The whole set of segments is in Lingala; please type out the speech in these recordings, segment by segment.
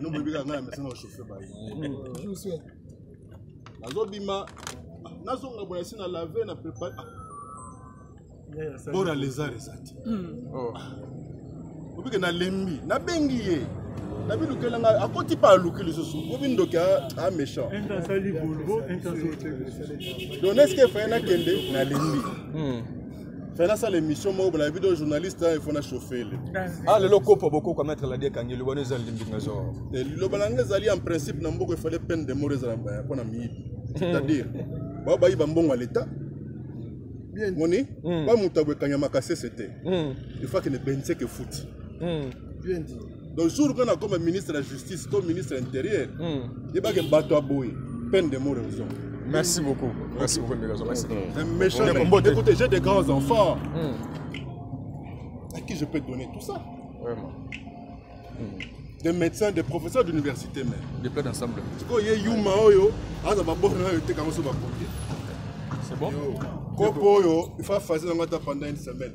no boyebi kaka ngai na mesa na chauffe baye nazobima nazonga boye esi na lave na prépare bora lézard eza te obike nalembi nabengi ye nabilukela ngai akoti mpe aluki lisusu obi ndoki a méchant donc neske efaye nakende nalembi hmm. fana asala émission moko bala video journaliste il faut na chauffer le ah lelo kopo bokoka mettre la die kangi lobana ezali limbinga zo eh, liloba na ngai ezali en principe na mboka efale peine de mort ezala baya mpo na miyibi c'est-à-dire bao bayiba mbongo ya leta moni hmm. bamutu aboekanya makasese te il faut akende benseke futi hmm. bien dit donc jour qu'on a comme ministre de la justice comme ministre intérieur hmm. yebake bato aboye peine de mort raison merci beaucoup merci beaucoup ndeko zo merci hmm. méchant écoutez j'ai des grands enfants hmm. à qui je peux donner tout ça vraiment des médecins des professeurs d'université même des plans d'ensemble sikoyo ye yuma oyo aza babona nayo eteka yango so bakoki c'est bon kopo oyo il faut afasi yango ata pendant une semaine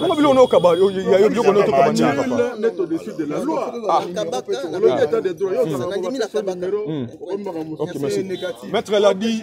Bongo biloko na okaba ya yo biloko na otokaba nini papa Maître l'a dit